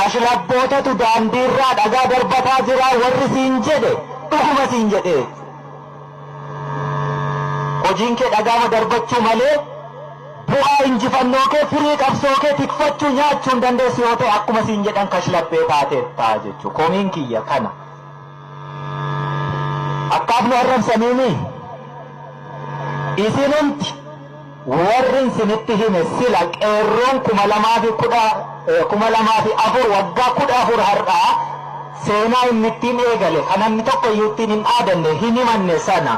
Kashlabbootatu daandiirraa dhagaa darbataa jira warri siin jedhe dhuguma siin jedhee. Hojiin kee dhagaama darbachuu malee bu'aa injifannoo kee firii qabsoo kee tikfachuu nyaachuu hin dandeessu yoo ta'e akkuma siin jedhan kashlabbee taateetta jechuudha. Komiin kiyya kana. Akkaaf nu arrabsaniini isinumti Warrin isinitti hime sila qeerroon 2004 waggaa 14 har'aa seenaa inni ittiin eegale kan namni tokko iyyuu ittiin hin dhaadanne hin himanne sana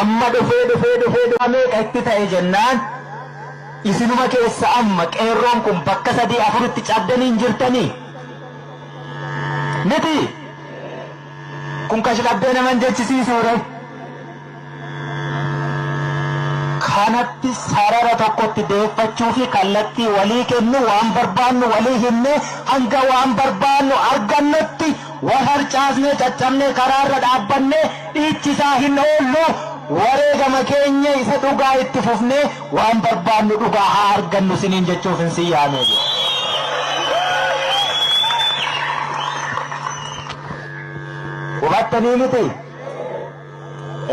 amma dhufee dhufee dhufee dhufee meeqa itti ta'e jennaan isinuma keessa amma qeerroon kun bakka sadii afuritti cabdanii hin jirtanii miti kun kashlabbee naman jechisiisuudha. kanatti sarara tokkotti deeffachuu fi kallattii walii kennu waan barbaannu walii himne hanga waan barbaannu argannutti wal harcaasnee caccabnee karaarra dhaabbanne dhiichisaa hin oollu wareegama keenya isa dhugaa itti fufnee waan barbaannu dhugaa haa argannu siniin jechuuf hin sin yaamee jiru. Hubattanii miti?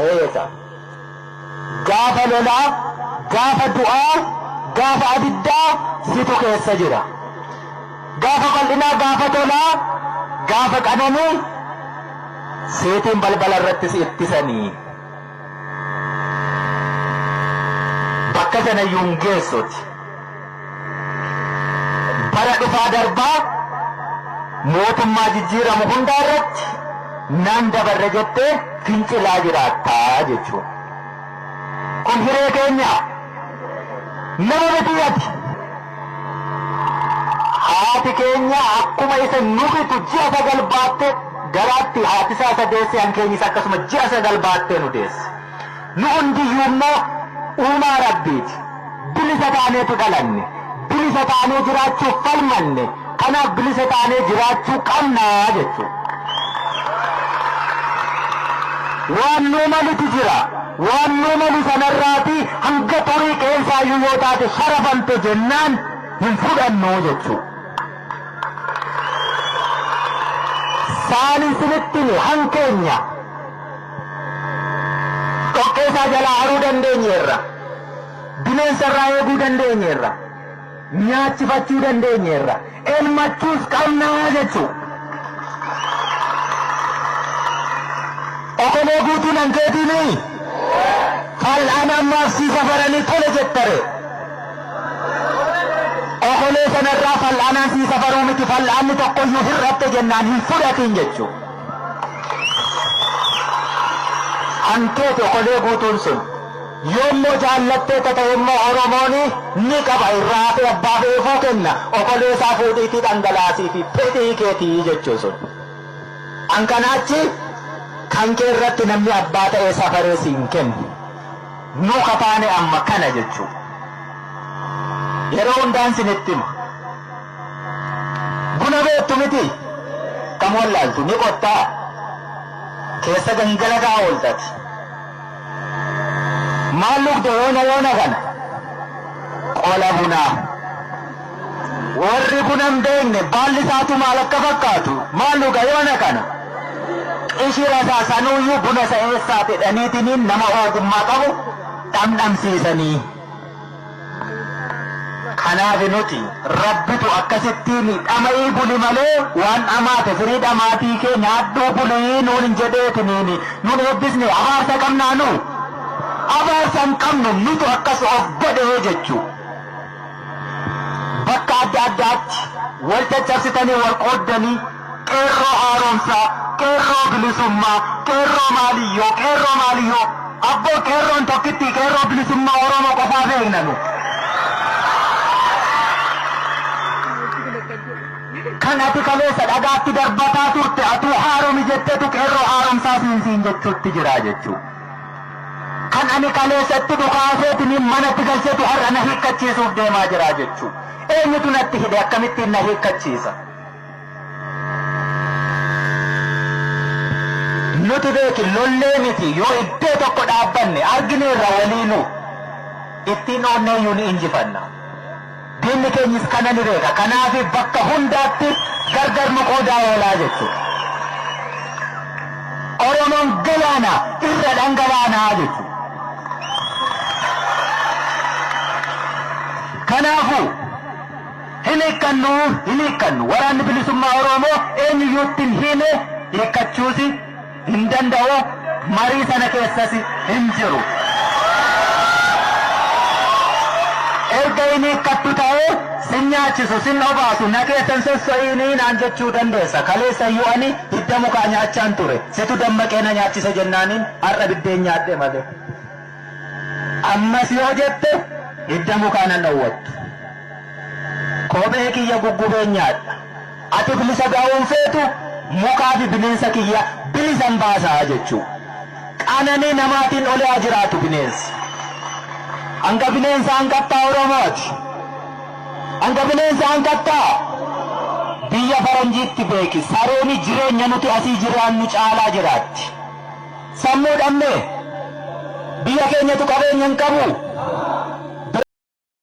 Eeyesa. Gaafa lolaa, gaafa du'aa, gaafa abiddaa situ keessa jira. Gaafa bal'inaa, gaafa tolaa, gaafa qananii seetiin balbala irratti si ittisanii. Bakka sanayyuu hin geessuti. Bara dhufaa darbaa mootummaa jijjiiramu hundaa irratti nan dabarre jettee fincilaa jiraattaa jechuudha. Kun hiree keenya nama miti ati. Haati keenya akkuma isa nu bitu ji'a sagal baatte garaatti haatisaa isa deesse hankeenyis akkasuma ji'a sagal baattee nu deesse. Nu hundiyyuu immoo uumaa Rabbiiti. Bilisa taaneetu dhalanne. Bilisa taanee jiraachuuf falmanne. Kanaaf bilisa taanee jiraachuu qabna jechuudha. Waan nuu malutu jira. Waan nuu malu sanarraati hanga xurii qeensaayyuu yoo taate sharafamte jennaan hin fudhannu jechuudha. Saan isinitti hime hankeenya. Dhoqqeesaa jalaa haruu dandeenyeerra. Bineensarraa eeguu dandeenyeerra. Nyaachifachuu dandeenyeerra. Elmachuus qabnaa jechuu. Okolee guutuu nan keetiinii? Fal'aan ammaaf sii safaranii tole jettare. Okolee sanarraa fal'aanaan sii safaruu miti fal'aanni tokkoyyuu hir'atte jennaan hin fudhatiin jechuudha. An teeti okolee guutuun sun. Yoommoo jaallattee tata'emmoo Oromooni ni qaba irraa hafee abbaa fe'eefuu kenna okolee isaa fuudhiitii dhangalaasiifi fedhii keetii jechuu sun. An kanaa achi kan kee irratti namni abbaa ta'ee safaree siin kennu. Nuu ka taane amma kana jechuu. Yeroo hundaan sinitti hima. Buna beektu miti kam wallaaltu ni qottaa keessa gangalataa ooltati. Maal lugda yoona yoona kana qola bunaa. Warri buna hin beekne baalli isaatu maal akka fakkaatu maal luga yoona kana qishira isaa sanuuyyuu buna isa eessaati dhaniitiniin nama ogummaa qabu dhamdhamsiisanii. Kanaaf nuti rabbitu akkasittiin dhama'ii buli malee waan dhamaate firii dhamaatii kee nyaadhuu bulii nuun hin jedheetiniin nuun eebbisne abaarsa qabnaa nu abaarsa hin qabnu nutu akkas of godhee jechuu bakka adda addaatti wal caccabsitanii wal qooddanii Qeerroo haaromsaa, Qeerroo Bilisummaa, Qeerroo Maaliyyoo, Qeerroo Maaliyyoo. Abboo Qeerroon tokkittii Qeerroo Bilisummaa Oromoo qofaa beekna nu. Kan ati kaleessa dhagaatti darbataa turte atuu haaromi jettetu Qeerroo haaromsaa siin siin jechuutti jira jechuu. Kan ani kaleessa itti dhukaaseetiin manatti galchetu har'a na hiikkachiisuuf deemaa jira jechuu. Eenyutu natti hidhe akkamittiin na hiikkachiisa? Nuti beeki lollee miti yoo iddoo tokko dhaabbanne argineerra waliinuu ittiin oonneeyyuu ni injifanna. Diinni keenyis kana ni beeka. Kanaaf bakka hundaatti gargar nu qoodaa oolaa jechuudha. Oromoon galaana irra dhangalaanaa jechuudha. Kanaafuu Hin hiikkannu! Hin hiikkannu! Waraanni Bilisummaa Oroomoo eenyuyyuu itti hin hiimee, hiikkachuusi hin danda'u, marii sana keessasi hin jiru. Erga hin hiikkattu ta'ee sin nyaachisu, sin obaasu, na keessa hin sosso'iinii naan jechuu dandeessa. Kaleessayyuu ani hidda mukaa nyaachaan ture. Situ dammaqee na nyaachise jennaaniin har'a biddeen nyaadhe malee. Ammas yoo jette hidda mukaa nan dhowwattu. Kophee kiyya guggubeen nyaadha. Ati bilisa bahuun feetu mukaa fi bineensa kiyya bilisan baasa jechuu. Qananii namaatiin oli haa jiraatu bineensi. Hanga bineensa hanqattaa Oromooti. Hanga bineensa hanqattaa biyya faranjiitti beeki. Sareeni jireenya nuti asii jiraannu caalaa jiraatti. Sammuu dhabne. Biyya keenyatu qabeenya hin qabu.